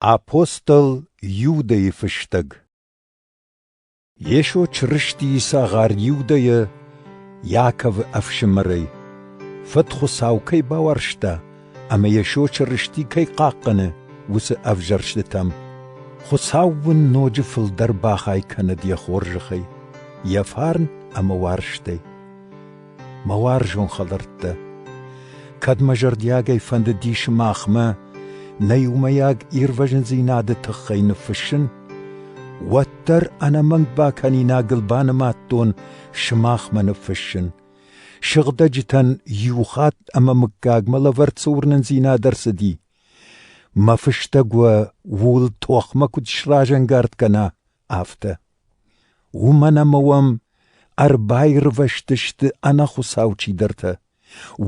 Апостол Иудӕйы фыстӕг Йесо Чырыстийы цагъар Иудӕйӕ Иаковы ӕфсымӕрӕй Фыд Хуыцау кӕй бауарзта ӕмӕ Йесо Чырысти кӕй хъахъхъӕны, уыцы ӕвзӕрстытӕм Хуыцау уын ноджы фылдӕр бахай кӕнӕд йӕ хорзӕхӕй, йӕ фарн ӕмӕ уарзтӕй. мӕ уарзон хӕлӕрттӕ. Кӕд мӕ зӕрдиагӕй фӕндыди сымахмӕ нӕ иумӕйаг ирвӕзындзинады тыххӕй ныффыссын, уӕддӕр ӕнӕмӕнг бакӕнинагыл банымадтон сымахмӕ ныффыссын. Сыгъдӕджытӕн иу хатт ӕмӕ мыггагмӕ лӕвӕрд цы уырнындзинад ӕрцыди. Мӕ фыстӕг уӕ ууыл тохмӕ куыд сразӕнгард кӕна, афтӕ. Уымӕн ӕмӕ уӕм ӕрбаирвӕзтысты ӕнӕхуыцау чидӕртӕ.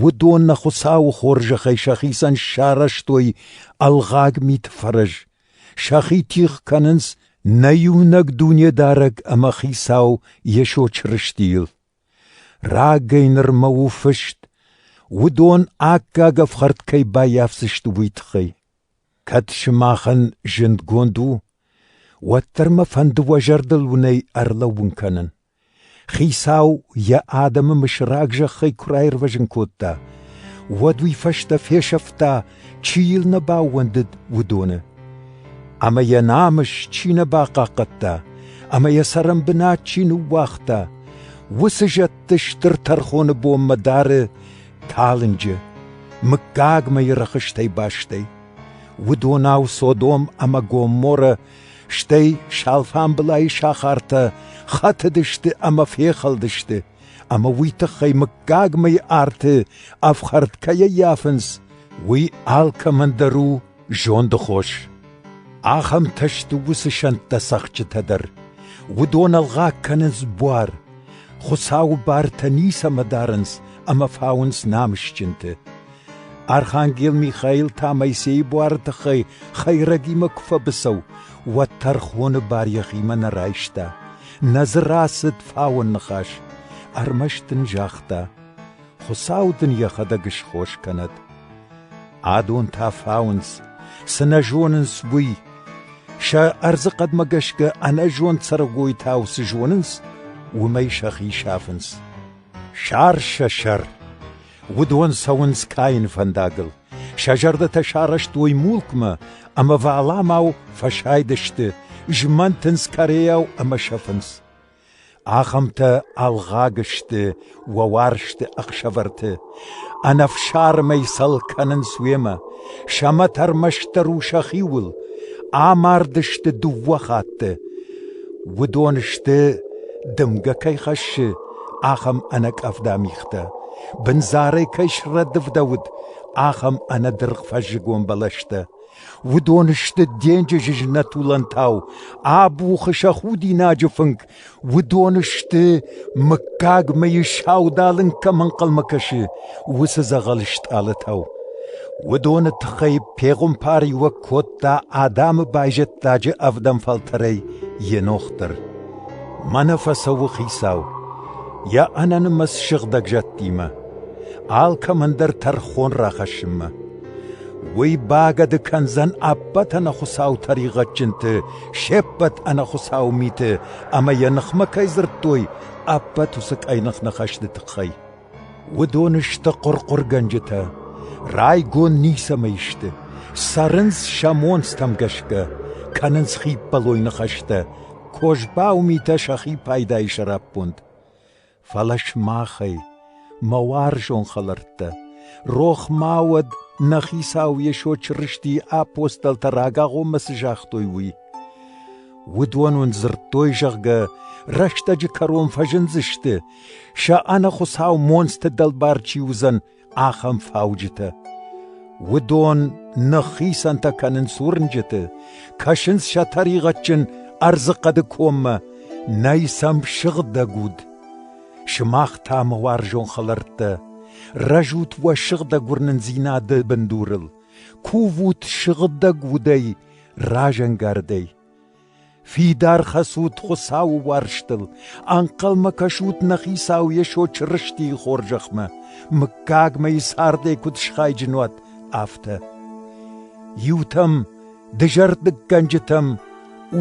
Уыдон нӕ Хуыцауы хорзӕхӕй сӕхицӕн сарӕзтой ӕлгъаг миты фӕрӕз. Сӕхи тигъ кӕнынц нӕ иунӕг Дунедарӕг ӕмӕ Хицау Йесо Чырыстийыл. Рагӕй нырмӕ у фыст, уыдон аккаг ӕфхӕрд кӕй баййафдзысты, уый тыххӕй. Кӕд сымахӕн зындгонд у, уӕддӕр мӕ фӕнды уӕ зӕрдыл уынӕй ӕрлӕууын кӕнын. Хицау йӕ адӕмы мысраг зӕххӕй куы раирвӕзын кодта, уӕд уый фӕстӕ фесӕфта, чи йыл нӕ баууӕндыд, уыдоны. Ӕмӕ йӕ намыс чи нӕ бахъахъхъӕдта, ӕмӕ йӕ цӕрӕнбынат чи ныууагъта, уыцы зӕдты стыр тӕрхоны бонмӕ дары талынджы, мыггаг мӕйы рӕхыстӕй бастӕй. Уыдонау Содом ӕмӕ Гоморрӕ, стӕй сӕлфӕмбылайы сахартӕ хӕтыдысты ӕмӕ фехӕлдысты, ӕмӕ уый тыххӕй мыггаг мӕйы арты ӕфхӕрд кӕй ӕййафынц, уый алкӕмӕн дӕр у Зонды хос. Ахӕмтӕ сты уыцы сӕнттӕ цӕхджытӕ дӕр. Уыдон ӕлгъаг кӕнынц буар. Хуыцауы бартӕ ницӕмӕ дарынц ӕмӕ фауынц намысджынты. Архангел Михаил та Моисейы буары тыххӕй хӕйрӕгимӕ куы фӕбыцӕу, уӕд тӕрхоны бар йӕхимӕ нӕ райста. Нӕ дзы рацыд фауӕн ныхас. Ӕрмӕст ын загъта: Хуыцау дын йӕхӕдӕг схос кӕнӕд. Адонтӕ фауынц, цы нӕ зонынц, уый. Сӕ ӕрдзы хъӕдмӕ гӕсгӕ ӕнӕзонд цӕрӕгойтау цы зонынц, уымӕй сӕхи сафынц. Сӕр сӕ сӕр. Уыдон цӕуынц каин фӕндагыл. Сӕ зӕрдӕтӕ сарӕзтой мулкмӕ, ӕмӕ валамау фӕсайдысты, змӕнтынц кӕрейау ӕмӕ сӕфынц. Ахӕмтӕ ӕлгъаг сты уӕ уарзты ӕхсӕвӕрты, ӕнӕфсармӕй сӕл кӕнынц уемӕ, сӕмӕт ӕрмӕстдӕр у сӕхиуыл, амард сты дыууӕ хатты. Уыдон сты, дымгӕ кӕй хӕссы, ахӕм ӕнӕкъӕвда мигътӕ, бындзарӕй кӕй срӕдывдӕуыд, ахӕм ӕнӕдыргъ фӕззыгон бӕлӕстӕ. Уыдон сты денджызы знӕтулӕнтау, абухы сӕ худинаджы фынг, уыдон сты, мыггаг мыйы саудалынг кӕм ӕнхъӕлмӕ кӕсы, уыцы дзӕгъӕл стъалытау. Уыдоны тыххӕй пегъуымпариуӕг кодта адӕмы байзӕддаджы ӕвдӕм фӕлтӕрӕй Енох дӕр. Мӕнӕ фӕцӕуы хицау, йӕ ӕнӕнымӕц сыгъдӕг зӕдтимӕ, алкӕмӕн дӕр тӕрхон рахӕссынмӕ. Уый багӕды кӕндзӕн ӕппӕт ӕнӕхуыцау тӕригъӕдджынты, се ппӕт ӕнӕхуыцау миты ӕмӕ йӕ ныхмӕ кӕй дзырдтой, ӕппӕт уыцы къӕйных ныхӕсты тыххӕй. Уыдон сты хъуырхъуыргӕнджытӕ, райгонд ницӕмӕй сты, цӕрынц сӕ монцтӕм гӕсгӕ, кӕнынц хиппӕлой ныхӕстӕ, козбау митӕ сӕхи пайдайы сӕраппонд. фӕлӕ сымахӕй, мӕ уарзон хӕлӕрттӕ, рох ма уӕд, нӕ Хицау Йесо Чырыстийы апостолтӕ рагагъоммӕ цы загътой, уый. Уыдон уын дзырдтой, зӕгъгӕ, рӕстӕджы кӕрон фӕзындзысты, сӕ ӕнӕ Хуыцау монцты дӕлбар чи уыдзӕн, ахӕм фауджытӕ. Уыдон ныххицӕнтӕ кӕнынц уырнджыты, кӕсынц сӕ тӕригъӕдджын ӕрдзы хъӕды коммӕ, нӕй сӕм сыгъдӕг уд. Сымах та, мӕ уарзон хӕлӕрттӕ, рӕзут уӕ сыгъдӕг уырнындзинады бындурыл, кувут сыгъдӕг удӕй, разӕнгардӕй. Фидар хӕцут Хуыцауы уарзтыл, ӕнхъӕлмӕ кӕсут нӕ Хицау Йесо Чырыстийы хорзӕхмӕ, мыггагмӕ цардӕй куыд схайджын уат, афтӕ. Иутӕм, дызӕрдыггӕнджытӕм,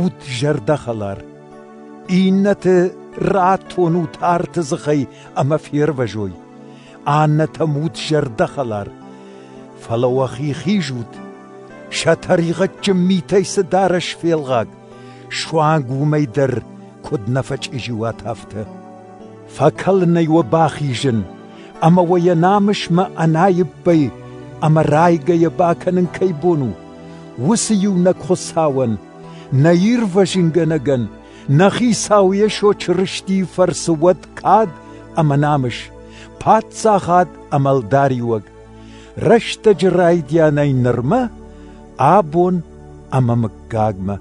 ут зӕрдӕхӕлар. Иннӕты ратонут арты дзыхӕй ӕмӕ фервӕзой. Аннӕтӕм ут зӕрдӕхӕлар. Фӕлӕ уӕхи хизут, Сӕ тӕригъӕдджын митӕй цы дарӕс фелгъаг, суанг уымӕй дӕр куыд нӕ фӕчъизи уат афтӕ. Фӕкӕлынӕй уӕ бахизын, ӕмӕ уӕ йӕ намысмӕ ӕнаиппӕй ӕмӕ райгӕйӕ бакӕнын кӕй бон у, уыцы иунӕг Хуыцауӕн, нӕ ирвӕзынгӕнӕгӕн, нӕ Хицау Йесо Чырыстийы фӕрцы уӕд кад ӕмӕ намыс, паддзахад ӕмӕ ӕлдариуӕг, Рӕстӕджы райдианӕй нырмӕ абон ӕмӕ мыггагмӕ.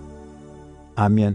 Амен.